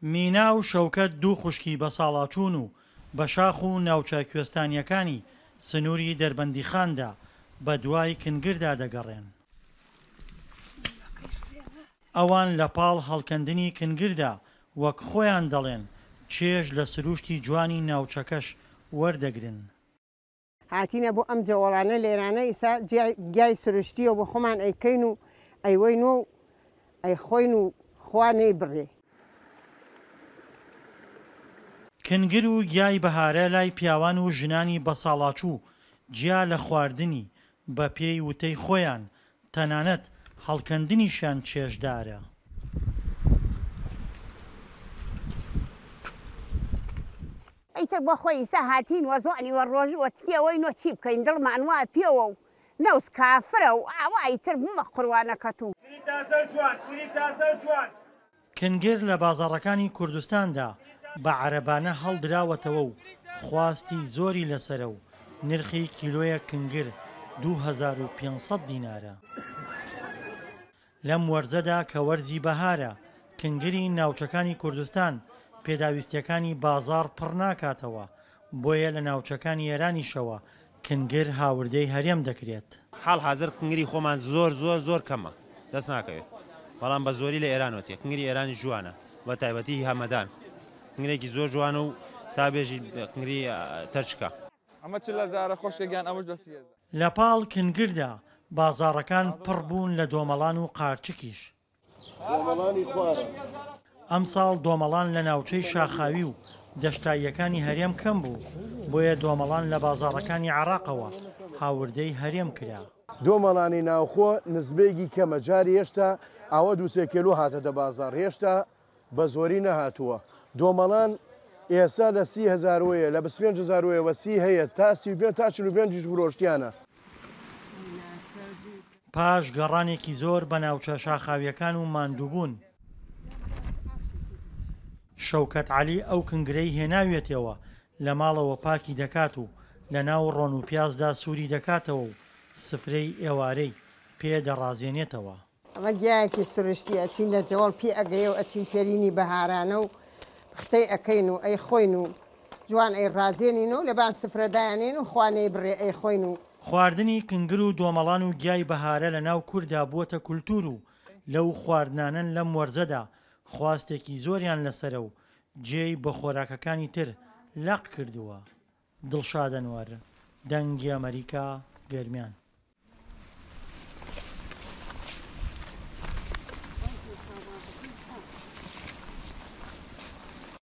مینا و شەوکەت دوو خوشکی بەساڵاچوون و بەشاخ و ناوچە کوێستانییەکانی سنووری دەربەندیخاندا بەدوای کنگردا دەگەڕێن. ئەوان لەپاڵ هەڵکەندنی کنگردا وەک خۆیان دەڵێن، چێژ لە سرووشتی جوانی ناوچەکەش وەردەگرن. هاتینە بۆ ئەم جەوەڵانە لێرانە ئیسا گیای سروشتیە بۆ خۆمان ئەیکەین و ئەیوەین و ئەیخۆین و خوا نەیبڕی. کنگر و گیای بەهارە لای پیاوان و ژنانی بەساڵاچوو، جیا لە خواردنی، بە پێی وتەی خۆیان، تەنانەت هەڵکەندنیشیان چێژدارە. ئیتر بۆ خۆی ئیستا هاتین وە زۆنی وە ڕۆژ وە تکیە وەی نۆ چی بکەین دڵمان وا پێوە و نەوز کافرە و ئاوا ئیتر بمە قوروانەکەت و. گوری تازە و جوان گوری تازە و جوان. کنگر لە بازاڕەکانی کوردستاندا بە عەرەبانە هەڵدراوەتەوە و خواستی زۆری لەسەرە و نرخی کیلۆیەک کنگر دوو هەزار و پێنج سەد دینارە. لەم وەرزەدا کە وەرزی بەهارە، کنگری ناوچەکانی کوردستان پێداویستییەکانی بازاڕ پڕ ناکاتەوە، بۆیە لە ناوچەکانی ئێرانیشەوە کنگر هاوردەی هەرێم دەکرێت. حاڵحازر کنگری خۆمان زۆر زۆر زۆر کەمە دەست ناکەوێت، بەڵام بە زۆری لە ئێرانەوە تێ. کنگری ئێرانیش جوانە، بە تایبەتی هی هەمەدان کنگرێکی زۆر جوانە و تا بێژیت کنگری تەرچکە. ئەمە چ لەزارە خوشکە گیان ئەمەش لە سیەزە. لە پاڵ کنگردا بازاڕەکان پڕ بوون لە دۆمەڵان و قارچکیش. دۆمەڵانی خوارە. ئەمساڵ دۆمەڵان لە ناوچەی شاخاوی و دەشتاییەکانی هەرێم کەم بوو، بۆیە دۆمەڵان لە بازاڕەکانی عێراقەوە هاوردەی هەرێم کرا. دۆمەڵانی ناوخۆ نسبەیەکی کەمە، جاری هێشتا ئاوە دوو سێ کێلو هاتەتە بازاڕ، هێشتا بە زۆری نەهاتووە دۆمەڵان ئێستا لە سی هەزار وەیە لە بیست پێنج هەزار وەیە وە سی هەیە تا سی و پێنج تا چل و پێنجیش فرۆشتیانە. پاش گەڕانێکی زۆر بە ناوچە شاخاوییەکان و ماندووبوون. شەوکەت عەلی ئەو کنگرەی هێناویەتیەوە لە ماڵەوە پاکی دەکات و لە ناو ڕۆن و پیازدا سووری دەکاتەوە و سفرەی ئێوارەی پێ دەڕازێنێتەوە. ئەمە گیایەکی سروشتی ئەچین لە جەوەڵ پی ئەگەیە و ئەچین تێرینی بەهارانە و پختەی ئەکەین و ئەیخۆین و جوان ئەیڕازێنین و لەبان سفرە دایانێین و خوا نەیبڕێ ئەیخۆین و. خواردنی کنگر و دۆمەڵان و گیای بەهارە لە ناو کورددا بووەتە کولتوور و لەو خواردنانەن لەم وەرزەدا خواستێکی زۆریان لەسەرە و جێی بە خۆراکەکانی تر لەق کردووە. دڵشاد ئەنوەر، دەنگی ئەمەریکا، گەرمیان.